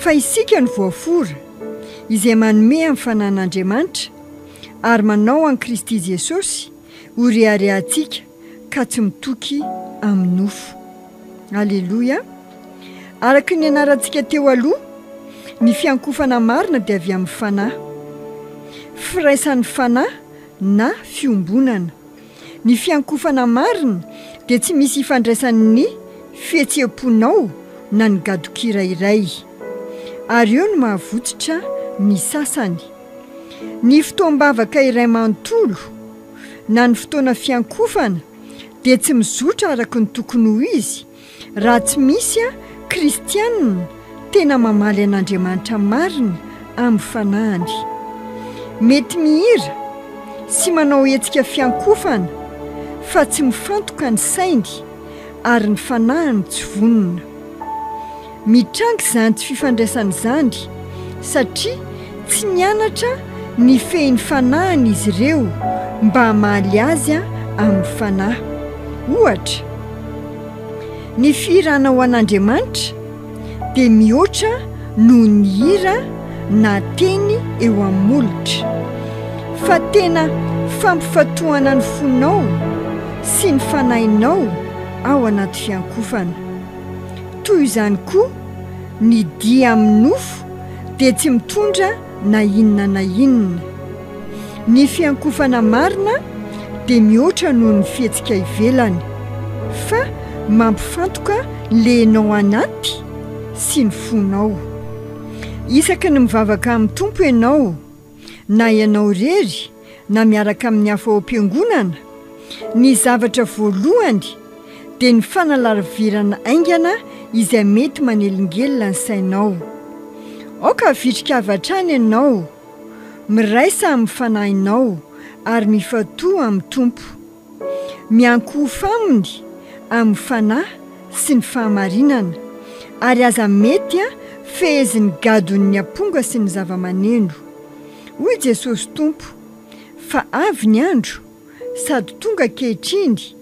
Fa isika no voafora, izay manome amin'ny fananan'Andriamanitra, ary manao an'i Kristy Jesosy ho reharehantsika ka tsy mitoky amin'ny nofo. Aleloia! Araka ny nianarantsika teo aloha, ny fiankofana marina dia avy amin'ny fanahy. Firaisan'ny fanahy na fiombonana. Ny fiankofana marina dia tsy misy ifandraisany ny fihetseham-ponao na ny gadon-kira iray. Ary eo no mahavotsitra ny sasany. Ny fotoam-bavaka iray manontolo na ny fotoana fiankofana dia tsy mizotra araka ny tokony ho izy Raha tsy misy aho, kristiana, tena mamaly an'Andriamanitra marina amin'ny fanahiny. Mety mihira sy manao hetsika fiankofana fa tsy mifantoka ny sainy ary ny fanahiny tsy vonona. Mitranga izany tsy fifandraisana izany satria tsy nianatra nifehy ny fanahiny izy ireo mba hamaly azy amin'ny fanahy. Ohatra, ny fihira anao an'Andriamanitra dia mihoatra noho ny hira na teny eo amin'ny molotra, fa tena fampifatohana ny fonao sy ny fanahinao ao anaty fiankofana. Toy izany koa, ny dia amin'ny nofo dia tsy mitondra na inona na inona. Ny fiankofana marina dia mihoatra noho ny fihetsika ivelany, fa mampifantoka ny lehinao anaty sy ny fonao. Isaky ny mivavaka amin'ny Tompo ianao, na ianao irery na miaraka amin'ny hafa ao am-piangonana, ny zavatra voalohany dia ny fanalarivirana haingana izay mety manelingelina ny sainao. Aoka havitrik'avy hatrany ianao, miraisa amin'ny fanahinao, ary mifantoha amin'ny Tompo. Miankohofa aminy amin'ny fanahy sy ny fahamarinana, ary aza mety fehezin'ny gadon'ny aponga sy ny zava-maneno. Hoy Jesosy Tompo, Fa avy ny andro, sady tonga ankehitriny,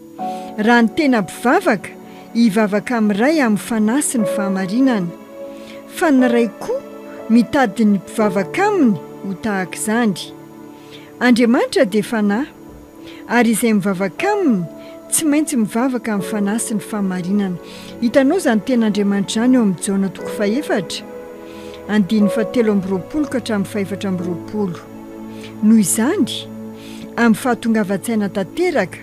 raha ny tena mpivavaka hivavaka amin'ny Ray amin'ny fanahy sy ny fahamarinana. Fa ny Ray koa mitady ny mpivavaka Aminy ho tahaka izany. Andriamanitra dia Fanahy. Ary izay mivavaka Aminy, tsy maintsy mivavaka amin'ny Fanahy sy ny fahamarinana. Hitanao izany tena Andriamanitra izany eo amin'ny Jaona toko fahefatra, andininy fahatelo amby roapolo ka hatramin'ny fahefatra amby roapolo. Noho izany, amin'ny fahatongavan-tsaina tanteraka,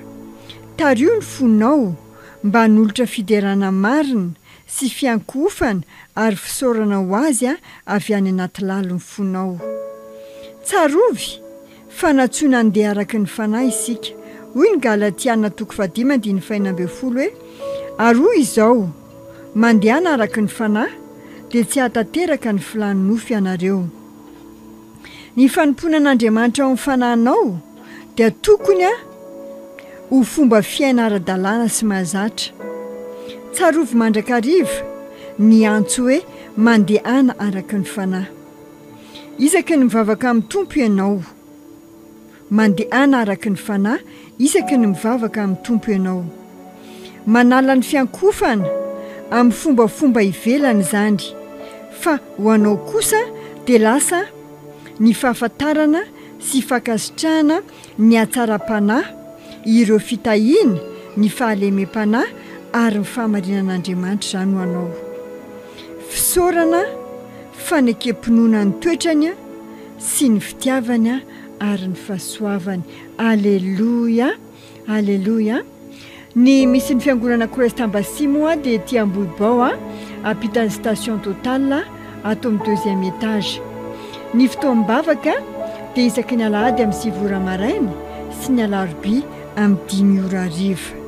tariho ny fonao mba hanolotra fiderana marina sy fiankohofana ary fisaorana ho Azy avy any anaty lalin'ny fonao. Tsarovy, Fanatsoina handeha araka ny Fanahy isika. Hoy ny Galatiana toko fahadimy andininy fahenina ambin'ny folo hoe, Ary hoy izao, Mandehana araka ny Fanahy, dia tsy hahatanteraka ny filàn'ny nofo ianareo. Ny fanompoana an'Andriamanitra ao amin'ny fanahinao dia tokony ho fomba fiaina ara-dalàna sy mahazatra. Tsarovy mandrakariva ny antso hoe mandehana araka ny Fanahy. Isaky ny mivavaka amin'ny Tompo ianao. Mandehana araka ny Fanahy isaky ny mivavaka amin'ny Tompo ianao. Manala ny fiankofana amin'ny fombafomba ivelany izany, fa ho anao kosa dia lasa ny fahafantarana sy fankasitrahana ny hatsaram-panahy, ireo fitahiana, ny fahalemem-panahy ary ny fahamarinan'Andriamanitra izany ho anao. Fisaorana, fanekem-pinoana ny toetrany sy ny fitiavany ary ny fahasoavany. Aleloia! Aleloia! Ny misy ny fiangonana Christ Embassy moa dia ety Ambohibao a, ampitan'ny station Total ato amin'ny deuxième étage. Ny fotoam-bavaka dia isaky ny alahady amin'ny sivy ora maraina sy ny alarobia amin'ny dimy ora hariva.